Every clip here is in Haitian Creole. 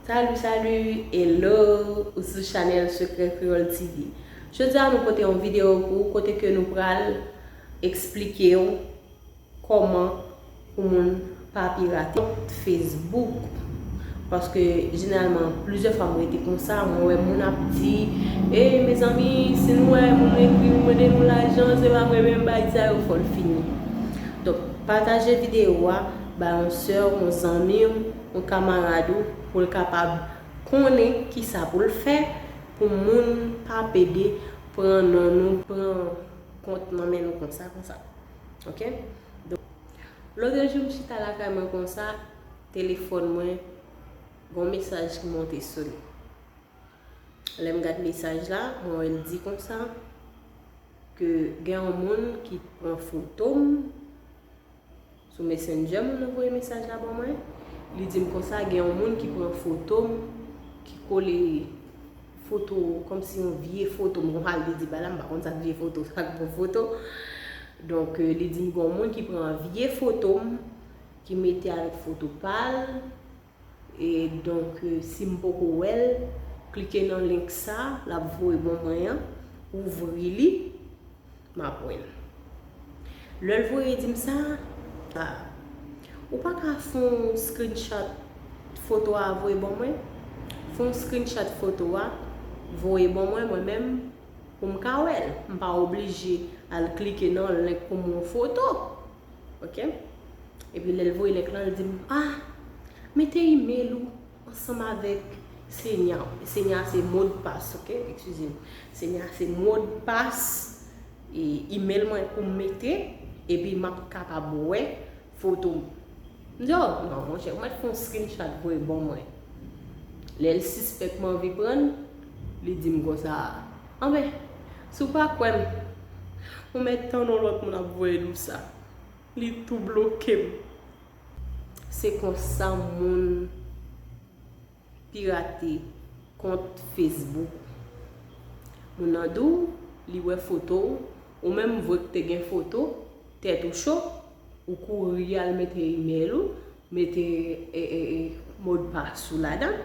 Salut salut, hello, ou sou chanel Secret Creole TV. Jodi a nou pote yon video pou ou kote ke nou pral eksplike ou Koman pou moun pa pirate kont Facebook paske jeneralman plizyè fwa m rete konsa mwen wè moun ap di e mezanmi si nou wè moun ekri nou mande nou lajan se pa mwen menm bay sa yo fol fini donk pataje video a bay yon sè w yon zanmi w yon kamarad ou pou l kapab konnen kisa pou l fè pou moun pa pede pran non nou pran kont nan men nou konsa konsa. Ok donk lotre jou m chita lakay mwen konsa telefòn mwen gon mesaj ki monte sou li lèm gad mesaj la mwen wè l di konsa ke gen yon moun ki pran foto m sou messenger moun nan voye mesaj la ban mwen li di m konsa gen yon moun ki pran foto m ki kole Foto kòmsi yon vye foto. Mwen konprann li di bay la, m pa konn sa k vye foto, sa k bon foto. Donk li di m gen yon moun ki pran vye foto m, ki mete avèk foto pa l. E donk si m poko wè l, klike nan link sa, l ap voye ban mwen an. Ouvri li. m ap wè l. Lè l voye di m sa, a, ou pa ka fè yon screenshot foto a voye ban mwen? Fè yon screenshot foto a, voye ban mwen mwen menm pou m ka wè l. M pa oblije al klike nan yon link pou m wè yon foto. Ok. Epi lè l voye link lan, l di m, a, mete email ou. Ansanm avèk Senya w. Senya a se modpas ok, eskize m. Senya a se modpas email mwen pou m mete epi m ap kapab wè foto m. M di oh non monchè ou mèt fè yon screenshot voye ban mwen. Lè l sispèk m anvi pran l, li di m konsa, anben si w pa kwè m, ou mèt tann yon lòt moun ap voye l ou sa. Li tou bloke m. Se konsa moun pirate kont Facebook. Moun nan di w li wè foto w, ou menm vwe k te gen foto, tèt ou cho, ou kouri al mete email ou, mete modpas ou ladan,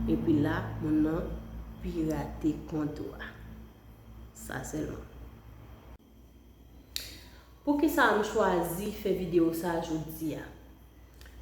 epi la moun nan pirate kont ou a. Sa sèlman. Poukisa m chwazi fè video sa jodia?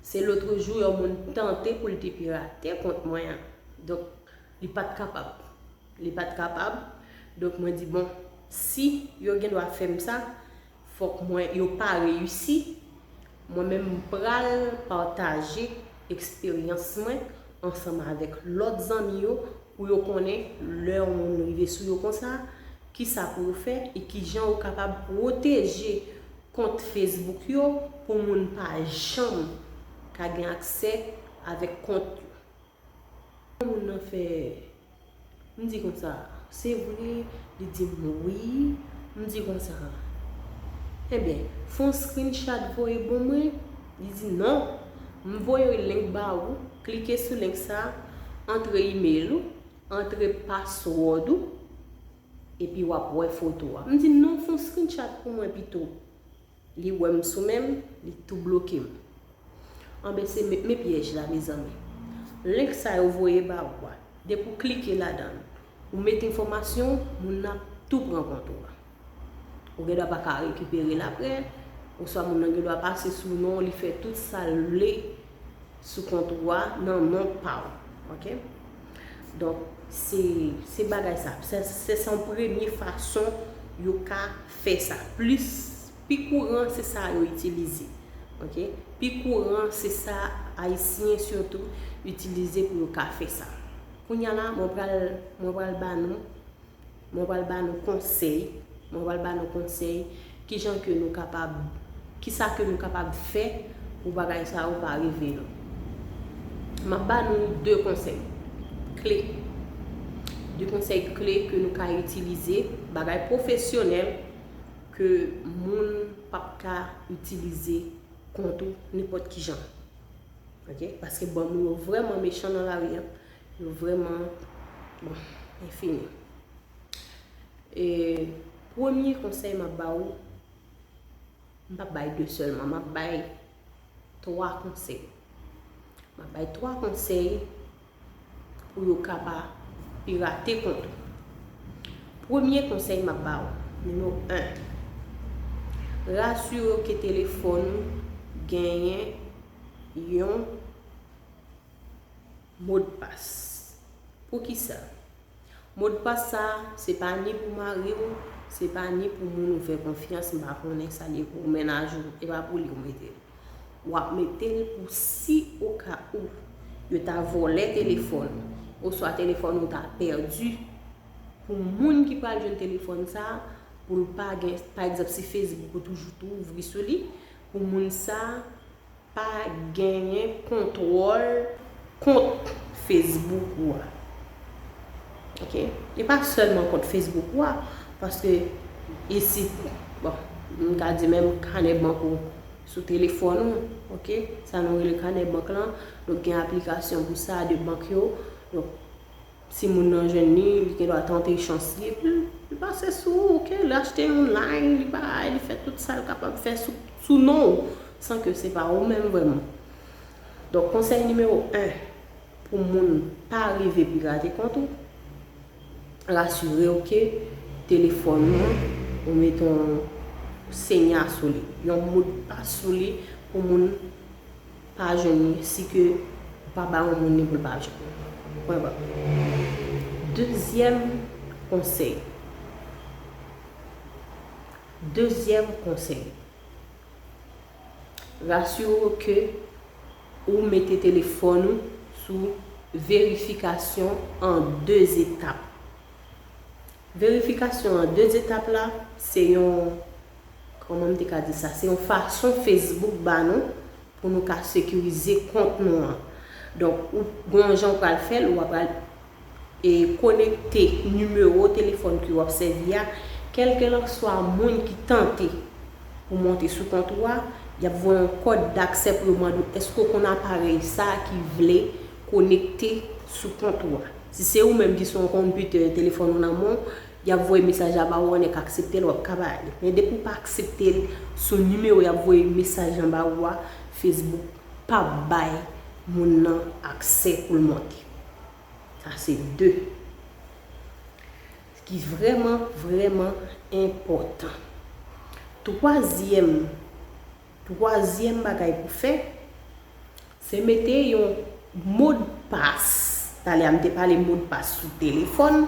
Se lotrejou yon moun tante pou l te pirate kont mwen an. Donk, li pat kapab. Li pat kapab. Donk, mwen di bon, si yo gen dwa fè m sa, fòk mwen yo pa reyisi. Mwen menm m pral pataje eksperyans mwen ansanm avèk lòt zanmi yo pou yo konnen lè yon moun rive sou yo konsa, Kisa pou ou fè e kijan ou kapab pwoteje kont Facebook yo pou moun pa janm ka gen aksè avèk kont yo. Lè moun nan fè m di konsa se vre li di m wi m di konsa enben fon screenshot voye bon mwen li di non m voye link ba ou klike sou link sa antre email ou Antre password ou epi wap wè foto a. M di non fon screenshot pou mwen pito. Li wèm sou menm li tou blokem. Anben se me pyèj la mezanmi. Link sa yo voye ba ou a depi ou klike ladann ou met enfòmasyon ou moun nan ap tou pran kont ou a. Ou gen dwa pa ka rekipere l aprè, oswa moun nan gen dwa pase sou non w, li fè tout sa l vle sou kont ou a nan non pa w. Ok? Donk, se bagay sa. Se san premye fason yo ka fè sa. Plis, pi kouran se sa yo itilize. Ok? Pi kouran se sa Ayisyen sitou itilize pou yo ka fè sa. Kounya la, mwen pral ba nou. Mwen pral ba nou konsèy, mwen pral ba nou konsèy kijan ke nou kapab, kisa ke nou kapab fè pou bagay sa yo pa rive nou. Map ba nou 2 konsèy kle, 2 konsèy kle ke nou ka itilize, bagay pwofesyonèl ke moun pap ka itilize kont ou nenpòt kijan. Ok, paske banm ou yo vrèman mechan nan lari an, Nou vreman bon infini. E premye konsey map ba ou, m pap bay 2 selman, map bay 3 konsey. Map bay 3 konsey pou yo ka pa pirate kont ou. Premye konsey map ba ou, nimewo 1, rasire ou ke telefon ou genyen yon Modpas. Poukisa? Modpas sa a, se pa ni pou mari ou, se pa ni pou moun ou fè konfyans, m pa konnen sa l ye pou mennaj ou, e pa pou li ou mete l. W ap mete l pou si oka ou, yo ta vòlè telefòn ou, oswa telefòn ou ta pèdi, pou moun ki pral jwenn telefòn sa a, pou l pa gen, pa egzanp si Facebook ou toujou tou ouvri sou li, pou moun sa a, Pa genyen kontwòl kont Facebook ou a. Ok. E pa sèlman kont Facebook ou a. Paske isi, bon, m ka di menm kanè bank ou sou telefòn ou. Ok. Sa nou rele kanè bank lan. Donk gen aplikasyon pou sa de bank yo. Donk. Timoun nan jwenn li, li gen dwa tante chans li epi li pase sou ou ok, li achte yon line, li bay, li fè tout sa l kapab fè sou non w san ke se pa ou menm vrèman. Donk konsèy nimewo 1 pou moun pa rive pirate kont ou, rasire w ke telefòn ou an ou mete yon senya sou li, yon modpas sou li pou moun. pa jwenn li si ke pa ba yon moun li pou l pa jwenn li pwen ba dezyèm konsèy dezyèm konsèy rasire w ke ou mete telefòn ou sou verifikasyon an de etap verifikasyon an de etap la se yon Kòman m te ka di sa? Se yon fason Facebook ba nou pou nou ka sekirize kont nou an. Donk, ou gen yon jan ou pral fè l, ou a pral e konekte nimewo telefòn ke w ap sèvi a, kèlkelanswa moun ki tante pou monte sou kont ou a, y ap voye yon kòd daksè pou yo mande w èske ou konn aparèy sa ki vle konekte sou kont ou a. Si se ou menm ki se yon konpitè, telefòn ou nan men w, Yap voye mesaj la ba ou an nèk akseptel wap ka bay li men depi ou pa akseptel sou nimewo yap voye mesaj lan ba ou a Facebook pap bay moun nan aksè poul monte sa se 2 ki vrèman vrèman enpòtan twazyèm twazyèm bagay pou fè Se mete yon mod pas. Talè a m te pale mod pas sou telefòn.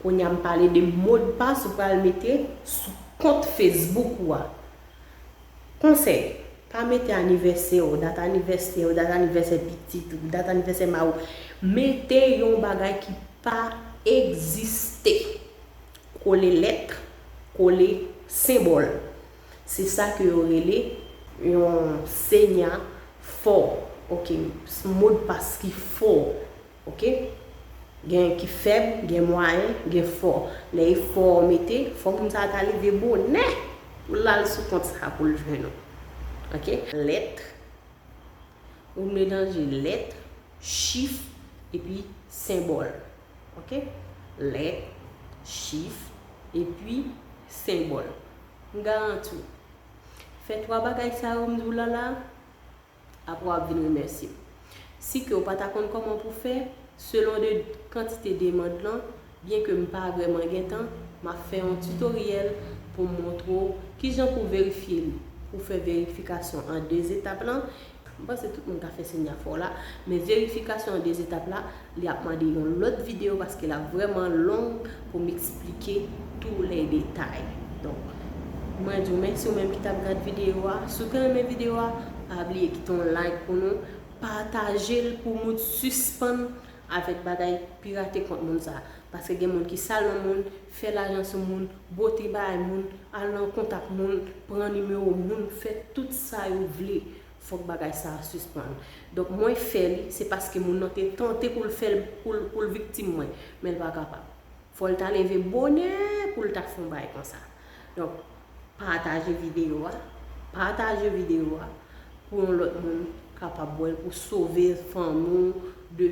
Kounye a m pale de mod pas ou pral mete sou kont Facebook ou a. Konsèy, pa mete anivèsè w, dat anivèsè w, dat anivèsè pitit ou, dat anivèsè mari w. Mete yon bagay ki pa egziste. Kole lèt, kole senbòl. Se sa ke yo rele yon senya fo, ok, modpas ki fo, ok. Gen ki fèb, gen mwayen, gen fo. Lè e fo ou mete, fo moun sa a ta leve bonè pou l al sou kont sa a pou l jwenn ou. Ok. Lèt, ou melanje lèt, chif, epi senbòl. Ok. Lèt, chif, epi senbòl. M garanti w, fè 3 bagay sa yo m di w la la, aprè w ap vin remèsye m. Si ke w pa ta konn kòman pou fè, selon de kantite demand lan, byen ke m pa vrèman gen tan, m ap fè yon tutoriel pou m montre w kijan pou verifye li, pou fè verifikasyon an 2 etap lan, M panse tout moun ka fè signe a fò la, men verifikasyon an 2 etap la, li ap mande yon lòt video paske lap vrèman long pou m eksplike tou lè detay. Donk, mwen di w mèsi ou menm ki tap gad video a, si w te renmen video a, pa bliye kite yon like pou nou, pataje l pou moun sispann avèk bagay pirate kont moun sa, paske gen moun ki sal nan moun, fè lajan sou moun, bwote bay moun, al nan kont ak moun, pran nimewo moun, fè tout sa yo vle. Fòk bagay sa a sispann. Donk mwen fè li, se paske moun nan te tante pou l fè l, pou l viktim mwen, men l pa kapab. Fò l ta leve bonè pou l ta fè yon bagay konsa. Donk, pataje videyo a, pataje videyo a pou yon lòt moun kapab wè l, pou sove fanmi w de.